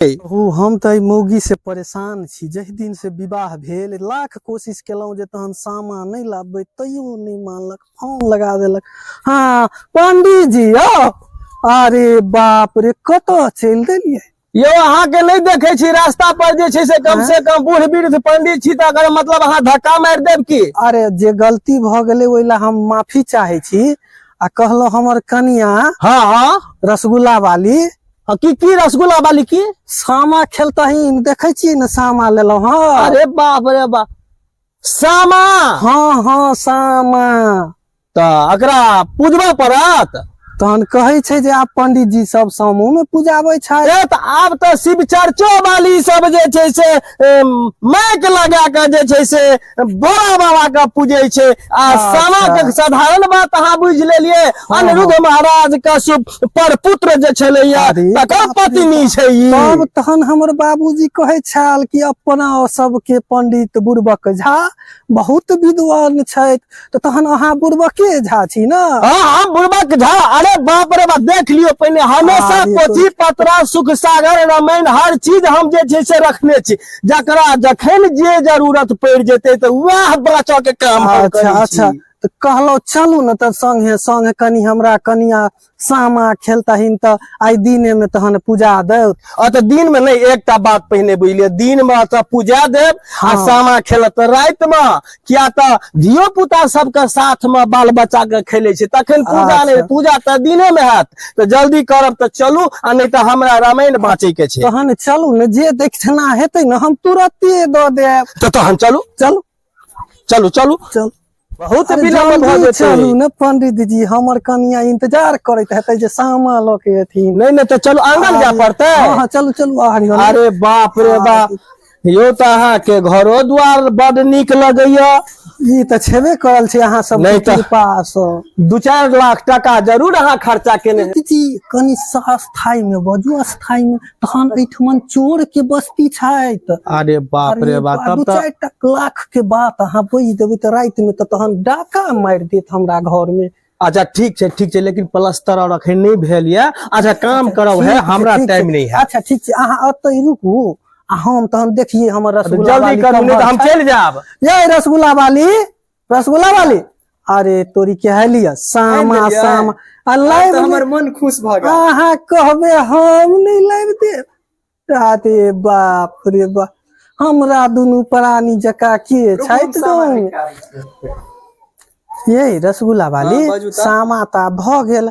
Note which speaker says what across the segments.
Speaker 1: छै कहू हम तऽ एहि मौगी से परेशान छी जहि दिन से विवाह भेल लाख कोशिश केलहुँ जे तहन सामा नहि लाबबै तैयो नहि मानलक फोन लगा देलक हँ पंडीजी यौ अरे बाप रे कतऽ चलि देलियै यौ अहाँ के नहीं देखे छी रास्ता पर जे छै से कम हाँ? से कम बूढ़ वृद्ध पंडित छी तऽ अगर मतलब अहाँ धक्का मारि देब की अरे जे गलती भऽ गेलै ओहि लए हम माफी चाहे छी आ कहलहुँ हमर कनिया हाँ हाँ रसगुल्ला वाली हँ, की की रसगुल्ला वाली की सामा खेलता ही देखे छी ने सामा लेलो हाँ अरे बाप रे बाप सामा हाँ हाँ सामा तऽ एकरा पूजबा पड़त तहन कहै छै जे आब पंडित जी सब सामो में पूजाबै छै ए तऽ आब तऽ शिव चर्चो वाली सब जे छै से एम, माइक लगा कऽ जे छै से बड़ा बाबा के पूजे छै आ अच्छा। सामा के साधारण बात अहाँ बुझ लेलियै हाँ, अनिरुद्ध हाँ। महाराज के सुप- पर पुत्र जे छलैया अरे तकर बाप रे पत्नी छै ई तब तहन हमर बाबूजी कहे छल कि अपना सबके पंडित बुड़बक झा बहुत विद्वान छथि तो तहन अहाँ बुड़बके झा छी ना हाँ हाँ बुड़बक झा अरे बाप रे बाप देख लियो पहले हमेशा हाँ, पोथी पत्रा सुख सागर रामायण हर चीज हम जे छै से रखने छी जकरा जखन जे जरूरत पड़ जेते तो वह बचा के काम अच्छा अच्छा तो कहलो चलू ना तब संगे संगे कनी हमरा कनिया सामा खेलतहिन तऽ आइ दिने में तहन पूजा देव आ तऽ दिन में नहीं एकटा बात पहिने बुझि लिअ दिन में तऽ पूजा देव आ हाँ। सामा खेलत राति में किया तऽ धियो पुता सबके साथ में बाल बच्चा के खेले छै तखन पूजा अच्छा। नहीं पूजा तऽ दिने में हैत तऽ जल्दी करब तऽ चलू आ नहीं तऽ हमरा रामायण बाँचे के छै तहन चलू ने जे देखना हेतै ने हम तुरते दऽ देब तऽ तहन चलू चलू चलू चलू चल बहुत अरे विलम्ब भऽ जल्दी जेतै चलू ने पंडित जी हमर कनिया इंतजार करैत हेतै जे सामा लऽ के एथिन नहीं नहीं तो चलू आंगन जा पड़तै हाँ हाँ चलू चलू आरी वाला। अरे बाप रे बाप यो तो अहाँ के घरो द्वार बड नीक लगैया ई तऽ छेबे करल छै अहाँ सब नहि तऽ- कृपा सँ दू चार लाख टका जरूर अहाँ खर्चा केने हेबै। पंडित जी कनि सा- स्थायी में बजू स्थायी में तहन एठमन चोर के बस्ती छथि अरे बाप रे बाप तब तो चार लाख के बात अहाँ बुझ देबै तऽ रात में तऽ तहन डाका मारि देत हमरा घर में अच्छा ठीक छै ठीक छै लेकिन प्लस्तर और अखन नहीं भेल ये अच्छा काम अच्छा, करब है हमरा टाइम नहीं है अच्छा ठीक छै अहाँ अतै रुकू आ हम तहन देखिए हमर रसगुल्ला जल्दी करू नहीं तऽ हम चलि जायब ये रसगुल्ला वाली रसगुल्ला वाली अरे तोरी के है लिया सामा आनि देलियै? सामा आ आब लाइव तऽ हमर मन खुश भऽ गेल अहाँ कहबे हम नहीं लाइव दे अरे बाप रे बाप हमरा दुनू प्राणी जका के रुकू, हम छैत सामा गाँव निकालै छी। ये रसगुल्ला वाली हाँ, बाजू तऽ। सामा ता भ गेल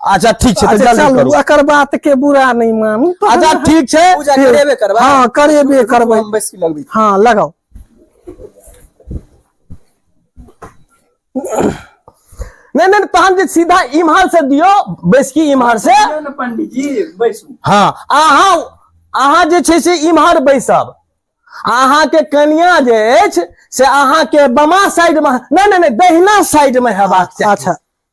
Speaker 1: अच्छा ठीक छै तऽ अच्छा, जल्दी चलू करू एकर बात के बुरा नहीं मानू तो अच्छा हम- ठीक छै पूजा करेबे करबा हाँ, करेबे करबै। हम बैस के लगबै हाँ लगाओ नहीं नहीं तहन जे सीधा इम्हर से दियो बैस की इम्हर से ना पंडित जी बैसू हाँ अहाँ अहाँ जे छै से इम्हर बैसब अहाँके कनिया जे अछि से अहाँके बमा साइड में नहीं नहीं नहीं दहिना साइड में हेबाक चाही अच्छा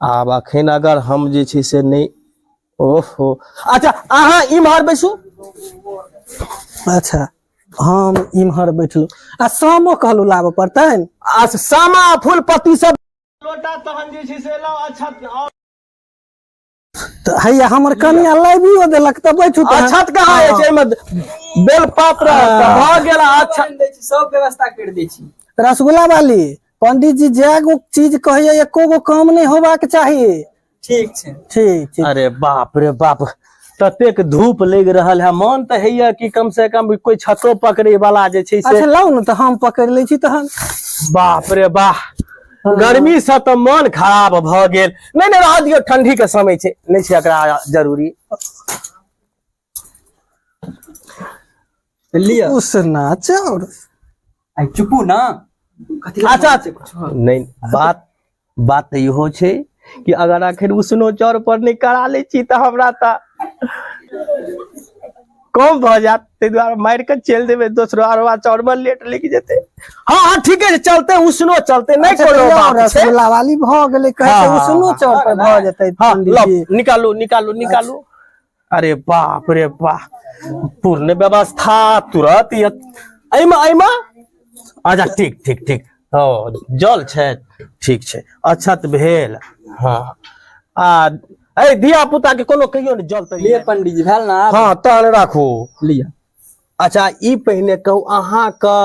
Speaker 1: आब अखन अगर हम जे छै से नहि ओहो अच्छा अहाँ इम्हर बैसू अच्छा हम इम्हर बैठलहुँ आ सामो कहलहुँ लाबऽ पड़तनि आ सामा फूल पत्ती सब लोटा तहन जे छै से लऽ अच्छा तऽ हैया हमर कनिया लाबियो देलक तऽ बैठू तऽ अक्षत कहाँ अछि हाँ। एहिमे बेलपत्र हाँ। भऽ गेल अक्षत दै छी सब व्यवस्था कर दै छी रसगुल्ला वाली पंडित जी जे गो चीज कहैया एको गो काम नहि होबाक चाही ठीक छै ठीक छै अरे बाप रे बाप ततेक धूप लग रहा है मन तो है कि कम से कम कोई छतो पकड़े वाला जे छै से अच्छा लाउ ने तो हम पकड़ ले छी तहन बाप रे बाह हँ। गर्मी से तऽ मन खराब भऽ गेल नहि नहि रह दियौ ठंडी के समय छै नहि छै एकरा जरूरी लिअ उसना चाउर आइ चुपू ना कथी लए अच्छा। मारै छै कुछ? नहि बात बात तऽ इहो छै कि अगर आखिर उसनो चौर पर नहि करा लै छी तऽ हमरा तऽ कम भऽ जायत ताहि दुआरे मारि कऽ चलि देबै दोसरो अरवा चौरबल लेट लागि जेतै हँ हँ ठीके छै चलते उसनो चलते नहि अच्छा, कोनो तैयो बात छै रसगुल्ला वाली भऽ गेलै कहै छै हाँ, उसनो हाँ, चौक पर भऽ जेतै हाँ, पंडित लब, जी। निकालू निकालू निकालू अरे बाप रे बाप पूर्ण व्यवस्था तुरंत यत- एहिमे एहिमे अच्छा ठीक ठीक ठीक ओ जल छै ठीक छै अक्षत भेल हँ आ ए धिया पुता के कोनो कहियो ने जल तरी ले पंडित जी भेल ना आब हँ तहन राखू लिअ अच्छा ई पहिने कहू अहाँके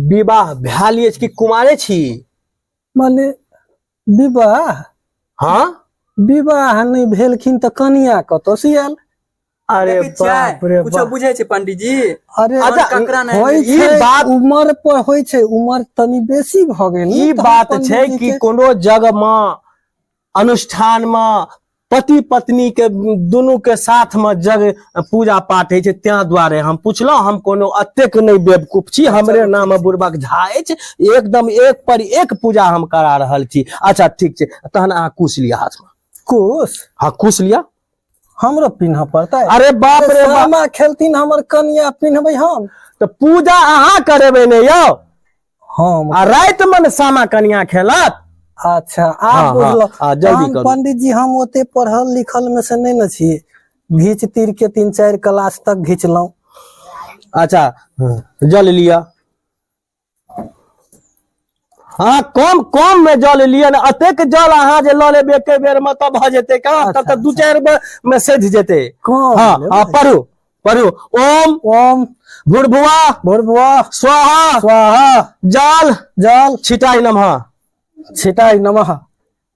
Speaker 1: विवाह भेल अछि कि कुमारे छी माने विवाह हाँ विवाह नहीं भेलखिन तऽ कनिया कतऽ से आयल अरे देखै छियै? बाप रे कुछो बाप बुझै छै पंडीजी अरे अच्छा, ककरा नहि होइ ई छै बात- उमर पर होइ छै उमर तनी बेसी भऽ गेल ई तहन बात छै पंडितजी कि के- कोनो जग मे अनुष्ठान मे पति पत्नी के दुनू के साथ में जग पूजा पाठ होइ छै तें द्वारे हम पूछलहुँ हम कोनो अतेक नहि बेवकूफ छी हमरे नाम बुड़बक झा अछि एकदम एक पर एक पूजा हम करा रहल छी अच्छा ठीक छै तहन अहाँ कुश लिअ हाथ में कुश हाँ कुश लिअ हमरो पिन्ह पड़तै अरे बाप रे बाप खेलथिन हमर कनिया पिन्हबै हम तऽ पूजा अहाँ करेबै ने यौ हम आ राति में ने सामा कनिया खेलत अच्छा हँ, आब हँ, बुझलहुँ हँ, जल्दी तहन करू। पंडित जी हम ओते पढ़ल लिखल में से नहीं न छी घीच तीर के तीन चार क्लास तक घीचलहुँ अच्छा जल लिया हाँ कम कम में जल लिया ने अतेक जल अहाँ जे लऽ लेब एके बेर में तब भऽ जेतै का तब तऽ दू चारि बेर में सधि जेतै कम हाँ लेबै। हाँ पढ़ू पढ़ू ओम ओम भूर्भुआ भूर्भुआ स्वाहा स्वाहा जाल जाल छिटाई नमः छिटाई नमः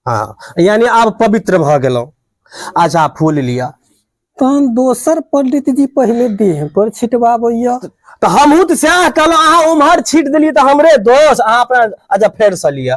Speaker 1: हाँ यानी आप पवित्र भ गेलहुँ अच्छा फूल लिया तहन दोसर पंडित जी पहले देह पर छिटवाबैया तो हमहूँ तो सएह कहलहुँ अहाँ उम्हर छीट देलियै तो हमरे दोष अहाँ अपना अच्छा फेरसँ लिअ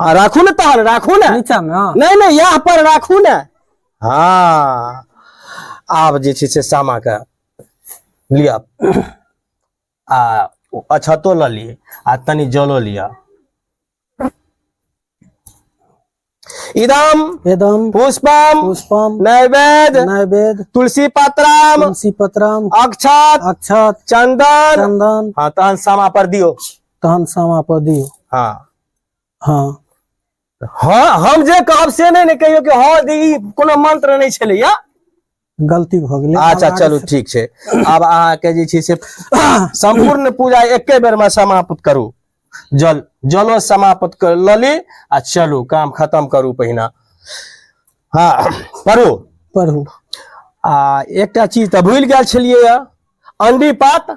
Speaker 1: हाँ राखू ने तहन राखू ने नीचा में हाँ। नहीं नहीं यहाँ पर राखू ने हाँ आब जे छै से सामा के लिअ आ अछतो लऽ लिअ आ तनी जलो लिअ इदम वेदम पुष्पम पुष्पम नैवेद्य नैवेद्य तुलसी पत्रम तुलसी पत्रम अक्षत अक्षत चंदन चंदन हाँ तहन सामा पर दियो तहन सामा पर दियो हाँ हाँ हाँ हम जे कहब से नहीं ने कहियो कि हाँ दी ई कोनो मंत्र नहीं छले या गलती भ गेलै अच्छा आब चलू ठीक छै आब अहाँ के जे छै से संपूर्ण पूजा एके बेर में समाप्त करू जल जलो समाप्त कर ल ली आ चलू काम खत्म करू पहिना हाँ पढ़ू आगे पढ़ू आ एकटा चीज तऽ भूलि गेल छलियै या अंडी पात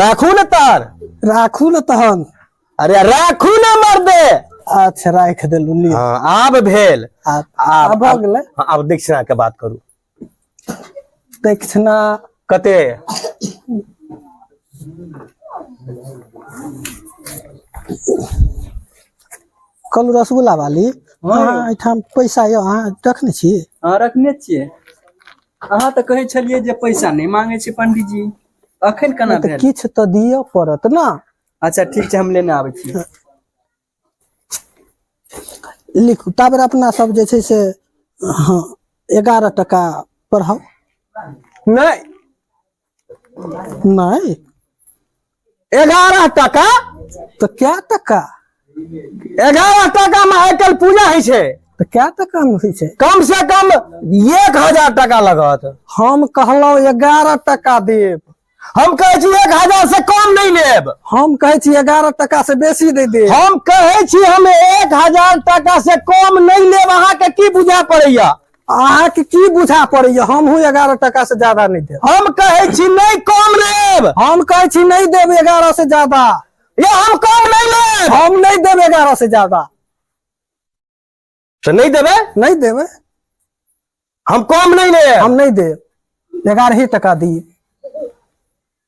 Speaker 1: राखू ने तार राखू ने तहन अरे राखू ने मर दे अच्छा राख देलू लियो हाँ, आब भेल आ- आब- आब भऽ गेलै हाँ, आब दक्षिणा के बात करू दक्षिणा कते कल रसगुल्ला वाली हाँ। अहाँ एहिठाम पैसा यऽ अहाँ रखने छी हाँ रखने छियै अहाँ तऽ कहै छलियै जे पैसा नहि मांगे छै पंडीजी अखन केना तऽ भेल किछु तऽ दिअ पड़त ने अच्छा ठीक छै हम लेने आबै छी लिखू ताबे अपना सब जे छै से हँ एगारह टका पढ़ाउ नहि नहीं एगारह टका तो क्या टका एगारह टका में आइ काल्हि पूजा होइ छै तो क्या टका में होइ छै कम से कम एक हजार टका लगत हम कहलहुँ एगारह टका देब हम कहै छी एक हजार से कम नहीं लेब हम कहै छी एगारह टका से बेसी दे देब हम कहै छी हम एक हजार टका से कम नहीं लेब अहाँके की बुझा पड़ैया अहाँके की बुझा पड़ैया हमहूँ एगारह टका से ज्यादा नहीं देब हम कहे छी नहीं कम लेब हम कहे छी नहीं देब एगारह से ज्यादा या हम कम नहीं लेब हम नहीं देब एगारह से ज्यादा तो नहीं देवे नहीं देवे हम कम नहीं लेब हम नहीं देब एगारह ही टका दिए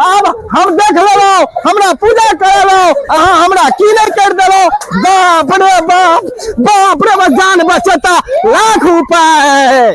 Speaker 1: आब हम देख लेलहुँ हमरा पूजा करेलहुँ अहाँ हमरा की नहि कर देलहुँ बाप रे बाप बाप रे जान बचता लाख उपाय